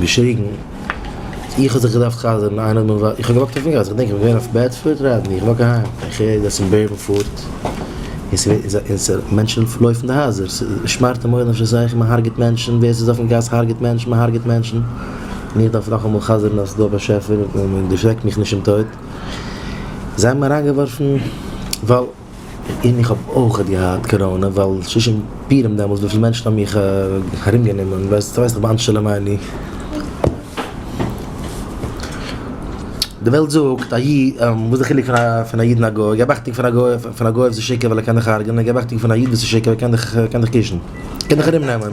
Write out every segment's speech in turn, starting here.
געשריגן, איך האב זיך געדארפט חזר'ן, איינער האט מיר ווארט, איך האב געוואקט אויפן גאס, איך געדענק איך בין געווען אויף בעדפארד ראד און איך וואק אהיים, איך הער אז אין בערנפארד און ס'ווערט און ס' מענטשן לויפן די הייזער, ס'שמארט אין מח נפש עס איז זיכער מ'הארגעט מענטשן, ווער ס'איז אויפן גאס הארגעט מענטשן, מ'הארגעט מענטשן, און איך דארף נאכאמאל חזר'ן אז ס'דא א באשעפער און ער דערשרעקט מיך נישט אין טויט, זיי האבן מיר אריינגעווארפן ווייל. און איך האב אויך געהאט קאראנע ווייל שושן פירם דעמאלטס וויפיל מענטשן האבן מיך ארום גענומען ווייסט ווייסט איך באנטש שלא מעני. די וועלט זאגט א איד וואס די חילוק פון א איד און א גוי געב אכטונג פון א גוי פון א גוי אויב ס'איז שקר ווייל ער קען דיך הרג'ענען געב אכטונג פון א איד וואס איז שקר ווייל ער קען דיך קען דיך קישן קען דיך ארום נעמען.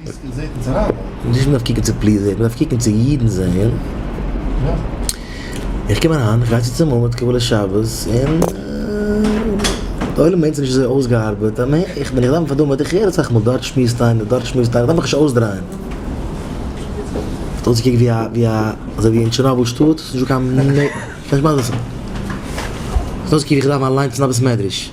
נישט מען דארף קוקן צו פליזען, מען דארף קוקן צו אידן זעהן. איך קום אריין, איך גיי צו צום עמוד קבלת שבת, און די עולם מיינט ס'נישט אזוי אויסגעארבעט, א מענ, איך בין געלאפן פאר די עמוד, איך הער אסאך מאל דארט שמועסט איינער, דארט שמועסט איינער, דארף איך נישט אויסדרייען. האט אויסגעקוקט ווי א, ווי א, אזוי ווי אין טשערנאבל שטאט, ס'נישט דא קיין מ מ, כ'קען נישט מסביר זיין. האט אויסגעקוקט ווי איך דארף מיין אליינס אין א בית מדרש.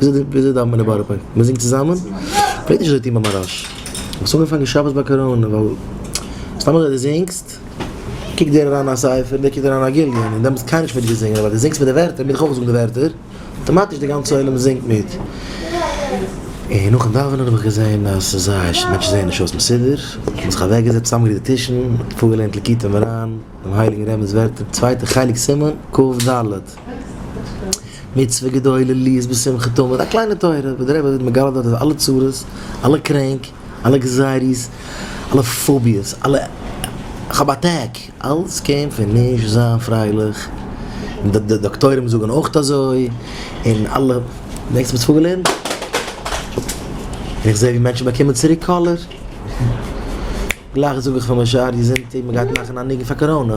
וויאזוי דאווענט מען אין בארא פארק? מ'זינגט צוזאמען? מ'פלעגט נישט אזוי טון ביי מהראש. האסט אנגעפאנגען שבת ביי קאראנע ווייל סתם אזוי דו זינגסט, קוקט דער אריין א ספר און דער קוקט אריין א גליון און דעמאלטס וויל קיינער נישט מיט דיר זינגען אבער דו זינגסט מיט די ווערטער מוז איך אויך זאגן די ווערטער, אויטאמאטיש די גאנצע עולם זינגט מיט. און נאכן דאווענען האב איך געזען אז ס'איז זייער ש. מענטשן זעען נישט אויס מסודר. האט מען זיך אוועקגעזעצט, צוזאמגעריקט די טישן, פארגעלערנט ליקוטי מוהרן, דעם הייליגן רבינ'ס ווערטער, צווייטע חלק סימן קד. מצוה גדולה לי איז בשמחה תמיד, א קליינע תורה וואס דער רבי וועט מגלה דארט אז אלע צרות, אלע קרענק, אלע גזירות, אלע פאביעס, אלע איך האב א טעג, אלס קען פון נישט זיין פרייליך, און די די דאקטוירים זאגן אויכט אזוי, און אלע דענקסט מיט פאגעלען? און איך זעה ווי מענטשן באקומען צוריק קאלער, גלייך זאג איך פאר מיין שווער יזונתי מען גייט מאכן א ניגון פאר קאראנא.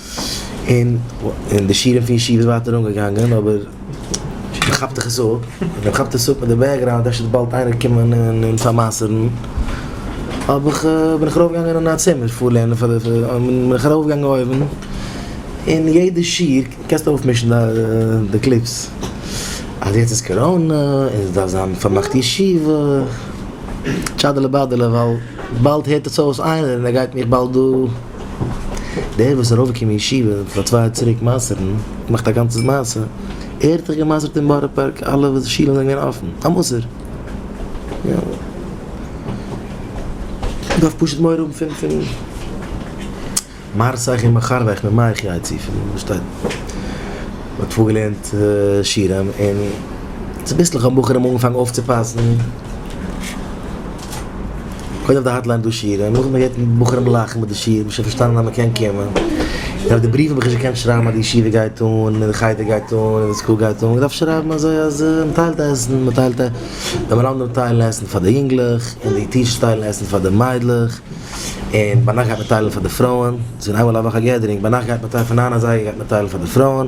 און די שירעם פון ישיבה איז ווייטער אנגעגאנגען אבער מען כאפט דיך עס אפ, און מען כאפט עס אפ מיט די בעקגראונד אפשר וועט באלד איינער קומען און פארמסר'ן, האב איך בין איך ארויף געגאנגען אין א צימער פאר לערנען פאר די, בין איך ארויף געגאנגען אויבן, און יעדע שיר, קענסט אויפמישן די קליפס, אז יעצט איז קאראנע און עס דארף זיין פארמאכט ישיבה, טשאדעלע באדעלע ווייל באלד הערט עס אויס איינער און ער גייט מיך באלד דא. דער וואס איז ארויף געקומען ישיבה פאר צוויי יאר צוריק מעשר'ן, געמאכט א גאנצע מעשה, ער האט זיך געמעשר'ט אין בארא פארק אלע וואס שילן זענען געווען אפען, א מסור. דארף פשוט מורא האבן פון פון מהרסייך און מחרבייך ממעיך יעצי פון וואס שטייט מען האט פארגעלערנט שירה און צוביסלעך האבן בחורים אנגעפאנגען אויפצופאסן, קודם אויף די האטליין דא שירה, נאכדעם האט מען געהערט בחורים לאכן מיט די שירה, האט מען שוין פארשטאנען אז מען קען קומען. און אויף די בריוו האב איך שוין געקענט שרייבן אז די ישיבה גייט אן, און די חדר גייט אן, און די סקול גייט אן, געדארפט שרייבן אזוי אז מען טיילט עסן, מען טיילט ע. די מלמדים טיילן עסן פאר די יונגלעך, און די טיטשערס טיילן עסן פאר די מיידלעך, און ביינאכט גייט מען טיילן פאר די פרויען, ס'איז ווען איינמאל א וואך א געדערינג, ביינאכט גייט מען טיילן, פון ניין אזייגער גייט מען טיילן פאר די פרויען.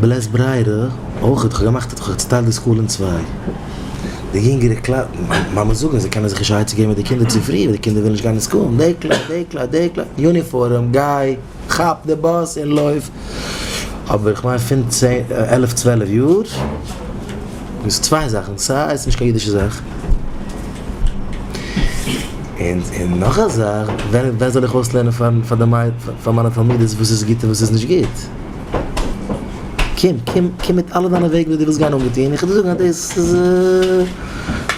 בלית ברירה אויך, איך האב געמאכט איך האב צוטיילט די סקול אין צוויי, די יונגערע קלאס, מאמעס זאגן אז זיי קענען זיך נישט עצה געבן מיט די קינדער צו פרי ווייל די קינדער ווילן נישט גיין אין סקול, די קלאס, די קלאס, די קלאס, יוניפארעם, גיי, כאפ די באס און לויף, אבער איך מיין פון צען, עלף צוועלף יאר, דאס איז צוויי זאכן, ס ה איז נישט קיין אידישע זאך, און נאך א זאך, ווען זאל איך אויסלערנען פאר די מיידל, פאר מיינע תלמידות וואס איז גוט און וואס איז נישט גוט? קום, קום, קום מיט אלע דיינע וועג וואס דו ווילסט גיין אנגעטון, איך וועל דיר זאגן אז דאס איז,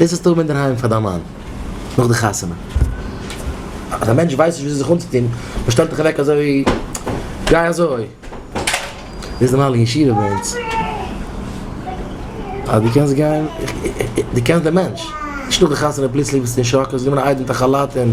דאס זאלסטו האבן אינדערהיים פאר דיין מאן, נאך די חתונה. אז א מענטש ווייסט נישט וויאזוי זיך אנצוטון, מען שטעלט דיך אוועק אזוי, גיי אזוי. דאס איז נארמאל אין ישיבה ביי אונז. אז דו קענסט גיין, דו קענסט דעם מענטש. נישט נאך די חתונה פלוצלינג ביסטו אין שאק, האסט גענומען א איידעם מיט א כאלאט און.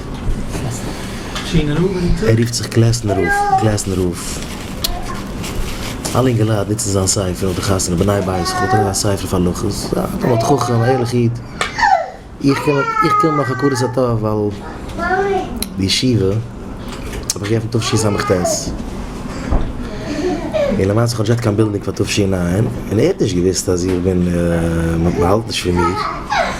ער רופט זיך קלעסנער רב, קלעסנער רב. אלע אינגעלייט נוצן זיין ספר אויף די חתונה, בני בית וכו', דער האט אריין א ספר אויף הלכות, א תלמיד חכם, א ערליכע איד. איך קען מיט, איך קען מיט מיין הכרת הטוב ווייל די ישיבה האב איך געעפנט תשי ס ט, און למעשה כ'האב נישט געהאט קיין בילדינג פאר תשי ע, און ער האט נישט געוואוסט אז איך בין, מ'האלט נישט פון מיר.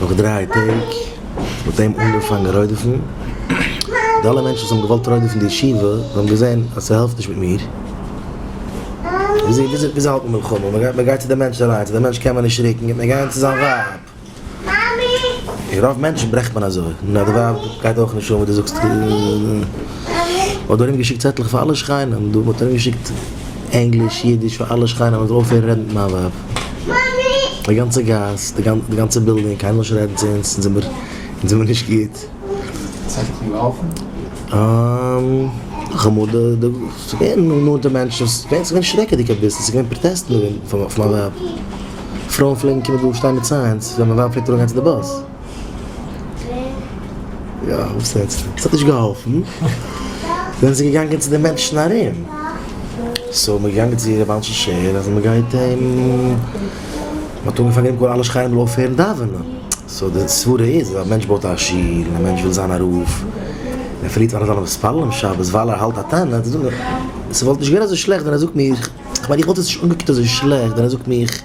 נאך דריי טעג וואלט ער אים אנגעפאנגען רודף'ן, די אלע מענטשן וואס האבן געוואלט רודף'ן די ישיבה, זיי האבן געזען אז ס'העלפט נישט מיט מיר, וויאזוי האלט מען מלחמה? מען גייט צו די מענטש אליינס, צו די מענטש קען מען נישט רוקן, גייט מען גיין צו זיין ווייב, רוב מענטשן ברעכט מען אזוי, נאר די ווייב גייט אויך נישט אן וואס דו זאגסט, מ'האט ארום געשיקט צעטלעך פאר אלע שכנים, מ'האט ארום געשיקט ענגליש, אידיש פאר אלע שכנים אז מ'זאל אויפהערן רעדן מיט מיין ווייב. די גאנצע גאס, די גאנצע בילדינג, קיינער וויל נישט רעדן צו אונז, אונז זעמיר נישט גוט. כ'מאל די, ס'געווען נאנטע מענטשן, ס'געווען שרעקעדיג אביסל, ס'געווען פראטעסטן אויף מיין ווייב, פרויען פלעגן קומען דא שטיין מיט סיינס ווען מיין ווייב פלעגט אראפגיין צו די באס. יא, וואס רעדסטו? ס'האט נישט געהאלפן, זענען זיי געגאנגען צו די מענטשן ארום, סאו מ'איז געגאנגען צו רבי אנשי שער אז מ'גייט אים, מ'האט אנגעפאנגען אים קאלן אלע שכנים מ'זאל אויפהערן דאווענען, סאו די סברה איז אז א מענטש בויט א שול און א מענטש וויל זיין א רב, און ער פארלירט פאר אלע זיינע מתפללים שבת ווייל ער האלט א תענית, זאג איך, ס'וואלט נישט געווען אזוי שלעכט ווען ער זאגט מיך, כ'מיין איך וואלט עס נישט אנגעקוקט אזוי שלעכט ווען ער זאגט מיך.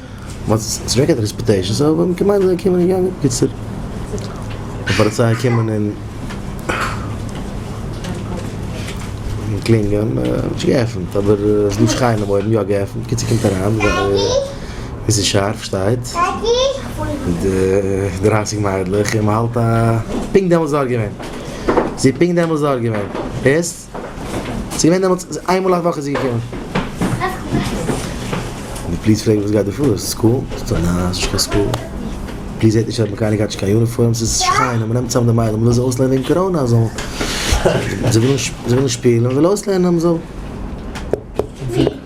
מ'האט צעשמעקעט די עקספעקטעישאנס אבער מ'האט געמיינט אז זיי קומען אין יענג קיצור די פאליציי קומען און קלינגען נישט געעפנט אבער עס דא שרייען אויבן אויף יא געעפנט קיצור קומט אריין מיסיס שארף שטייט מיט די דרייסיג מיידלעך און מ'האלט א פונקט דעמאלטס דארט געווען זי איז פונקט דעמאלטס דארט געווען. זי ווען דעמאלטס איין מאל א וואך איז זי געקומען. פליז פרעג וואס גייט דא פאר איז סקול? פליז זעט נישט אז מען קיינער גייט נישט קיין יוניפארם ס'איז שכונה מען נעמט צאם די מיידלעך מען וויל זיי אויסלערנען וועגן קאראנע אז זיי ווילן שפילן מען וויל אויסלערנען אז מען זאל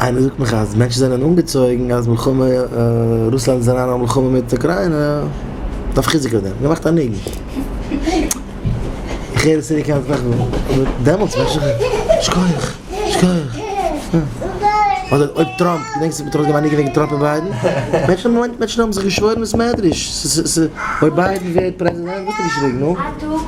איינער זאגט מיך אז מענטשן זענען אנגעצויגן אז מלחמה רוסלאנד איז אריין אין א מלחמה מיט אוקריינע דארף איך חיזוק אויף דעם געמאכט א ניגון איך הער עס יעדע כמה זמן אבער דעמאלטס מיינט איך דאך שכוח שכוח אדער אויב טראמפ געדענקסט ווען מען האט ארויס געגעבן א ניגון וועגן טראמפ און ביידן מענטשן האבן זיך געשוואוירן וואס מעדריש אויב ביידן ווערט פרעזידענט וואלט ער געשריגן נו.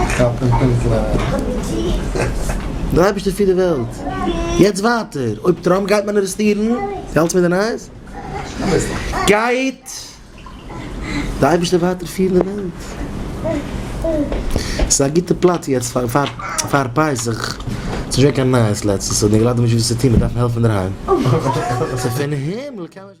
איך כאפ עס נישט גלייך. דער אייבערשטער פירט די וועלט. יעצט ווייטער, אויב טראמפ גייט מאנערעסטירן, דו האלטסט מיט די נייעס? גייט דער אייבערשטער ווייטער פירן די וועלט. ס'איז א גוטע פלאץ יעצט פאר פסח. ס'איז נישט געווען קיין נייעס לעצטנס, און די געלאט האבן נישט וואס צו טון, מיר דארפן העלפן אינדערהיים.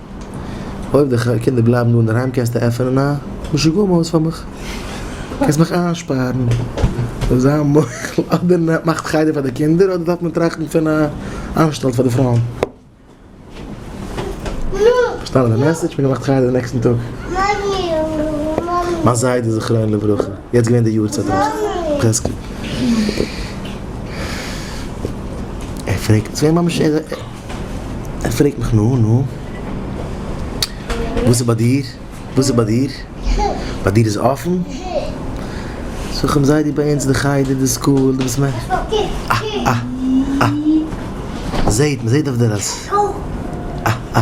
אויב די קינדער בלייבן דא אינדערהיים קענסטו עפענען א משוגעים הויז פאר מיך, קענסט מיך איינשפארן אויף זיין מוח'ל, אדער מאכט חדר פאר די קינדער אדער דארף מען טראכטן פון א אנשטאלט פאר די פרויען. פארשטאנען די מעסעדזש? מיר האבן געמאכט חדר די נעקסטן טאג. מיין זיידע זכרונו לברכה, יעצט געווען די יארצייט רח ל. ער פרעגט, עס איז געווען ממש. ער פרעגט מיך נו נו וואס איז ביי דיר וואס איז ביי דיר ביי דיר איז אפען זאג איך אים זיי דו ביי אונז די חדר די סקול די בית מדרש אה אה אה מען זעהט מען זעהט אויף דער אז אה אה.